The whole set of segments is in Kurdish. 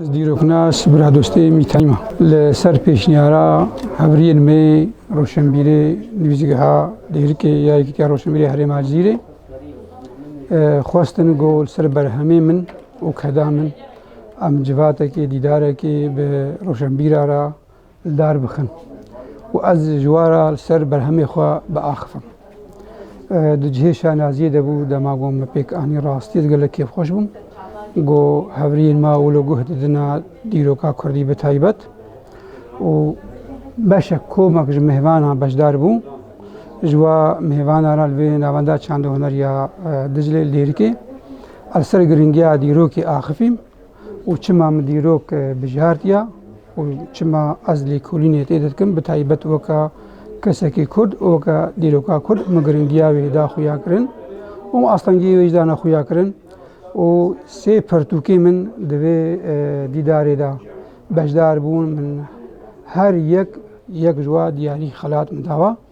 Ez dîroknas biradostê Mîtayma li ser pêşniyara hevriyên me roşenbîrê nivîzgeha Dêrikê ya Yekîtiya Roşenbîrê Herêma Cizîrê xwestin ku li ser berhemê min û keda min em civatekê dîdarekê bi roşenbîra re li dar bixin û ez ji we re li ser berhemê xwe biaxivim. Di cihê şanaziyê de bû dema got me pêk anî rastî ez gelek kêfxweş bûm. Got hevriyên me wilo guh didine dîroka Kurdî bi taybet û beşek komek ji mêvanan beşdar bû. Ji we mêvanan re li vê navenda çanda hunerî ya Diclê Lêrikê ez li ser giringiya dîrokê axivîm. û çima min dîrok bijartiya û çima ez lêkolînê tê de dikim bi taybet weka kesekî Kurd û weka dîroka Kurd min giringiya wê da xuyakirin û min astengiyê wê jî dana xuyakirin û sê pirtûkê min di vê dîdarê de beşdar bûn min her yek yek ji wan diyarî xelat min dawa.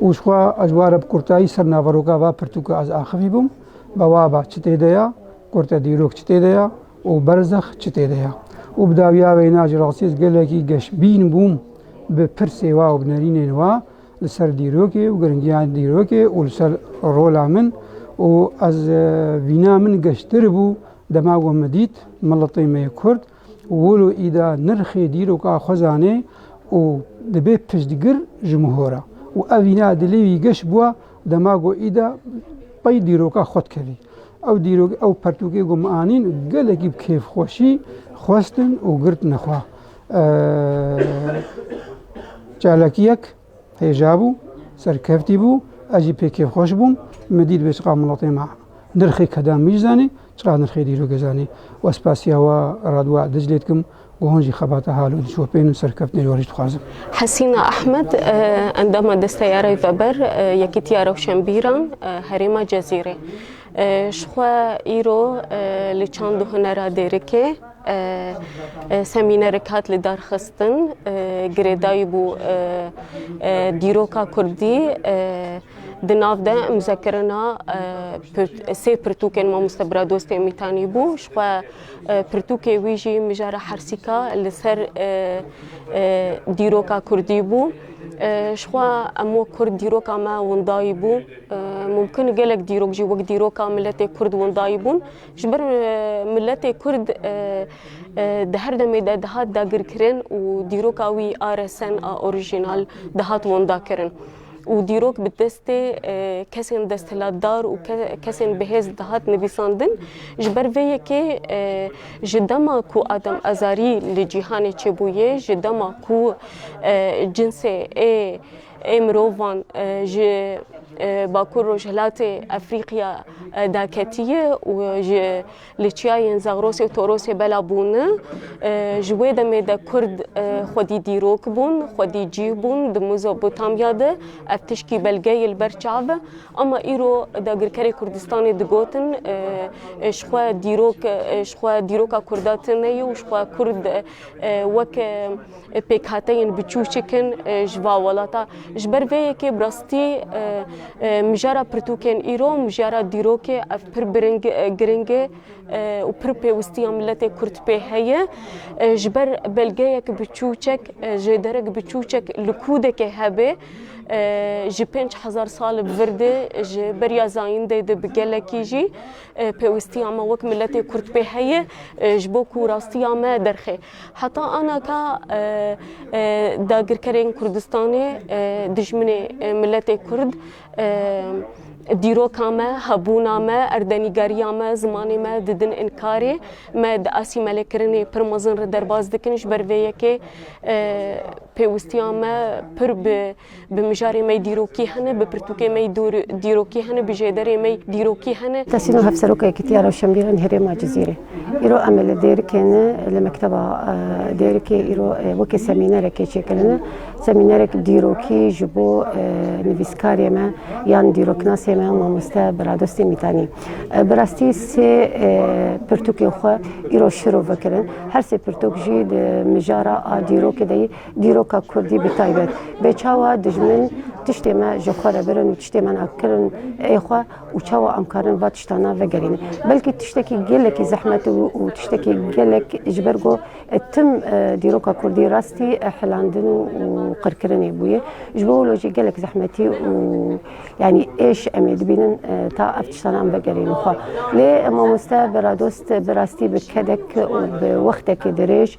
û ji xwe ez were bi kurtayî ser naveroka va pirtûka ez axivî bûm, Bawaba çi tê de ya, Kurte dîrok çi tê de ya û Berzex çi tê de ya? û bi dawiya wêna ji rastî ez gelekî geşbîn bûm bi pirsê wa û bi nerînên wa li ser dîrokê û giringiya dîrokê û li ser rola min û ez vîna min geştir bû dema we min dît, miletê me yê kurd, Wilo îda nirxê dîroka xwe zanê û dibe piştgir ji mihora û ev îna dilê wî geş bûa dema got îda pey dîroka xwe dikevî. Ew dîrok ew pertûkê got min anîn û gelekî bi kêfxweşî xwestin û girtine xwe. Çalakiyek. Hêja bû, serkeftî bû, ez jî pê kêfxweş bûm, min dît wê çiqas miletê me nirxê keda min jî zanî, çiqas nirxê dîrokê zanî we spasiya we Radwa Diclê dikim ku hûn jî xebata hal û dişopên û serkeftinên we jî dixwazin. Hesîna Ehmed, endama Desta ya Rêveber Yekîtiya Rewşenbîran Herêma Cezîrê, Ji xwe îro li çand û hunera dêrikê, Semînerek hat li darxistin girêdayî bû dîroka Kurdî di nav de imzekirina sê pirtûkên mamoste Biradostê Mîtanî bû ji xwe pirtûkê wî jî mijara hersîka li ser dîroka Kurdî bû. Ji xwe em wek Kurd dîroka me windayî bû. Mumkin gelek dîrok jî wek dîroka miletê Kurd windayî bûn. Ji ber miletê Kurd di her demê de dihat dagirkirin û dîroka wî a resen a orîjînal dihat windakirin û dîrok bi destê kesên desthilatdar û kesên bihêz dihat nivîsandin. Ji ber vê yekê ji dema ku Adem Azarî li cîhanê çêbûye, ji dema ku cinsê ê ê mirovan ji Bakur Rojhilatê Efrîqya da ketiye û ji li çiyayên Zagrosê û Torosê bela bûne. Ji wê demê de Kurd xwedî dîrok bûn, xwedî cîh bûn di Mezopotamya de. Ev tişkî belgeyê li ber çav e. Ama îro dagirkerê Kurdistanê digotin ji xwe dîrok ji xwe dîroka Kurda tune ye û ji xwe Kurd wek pêkhateyên biçûçik in ji va welata. Ji ber vê yekê bi rastî mijara pirtûkên îro û mijara dîrokê ev pir giring e û pir pêwistiya miletê Kurd pê heye. Ji ber belgeyek biçûçek, jêderek biçûçek li kûdekê hebê ji pênc hezar sal li vir de ji beriya zayîndê de bi gelekî jî pêwistiya me wek miletê Kurd pê heye ji bo ku rastiya me derxê. Heta ana ka dagirkerên Kurdistanê dijminê miletê Kurd dîroka me, hebûna me, erdenîgeriya me, zimanê me didin înkarê. Me di asîmelekirinê pir mezin re derbas dikin ji ber vê yekê pêwistiya me pir bi Bi mijarê mey dîrokî hene, bi pirtûkê mey dîrokî hene, bi jêderê mey dîrokî hene. Tesîno Hevseroka Yekîtiya Rewşenbîran Herêma Cizîrê, Îro em li Dêrikê ne, li Mekteba Dêrikê îro wekî semînerekê çêkirine. Semînerek dîrokî ji bo nivîskarê me yan dîroknasê me mamoste Biradostî Mîtanî. Bi rastî sê pirtûkên xwe îro şiro vekirin. Her sê pirtûk jî di mijara a dîrokê de yî. Dîroka Kurdî bi taybet bê çawa dijmin tiştê me ji xwe re birin û tiştê me na kirin ê xwe û çawa em karin va tiştana vegerînin. Belkî tiştekî gelekî zehmet û û tiştekî gelek ji ber ku tim dîroka Kurdî rastî hilandin û qirkirinê bûye. Ji bo wilo jî gelek zehmetî û yanî êş em ê dibînin ta ev tiştana em vegerînin xwe. Lê mamoste Biradost bi rastî bi kedek û bi wextekî dirêj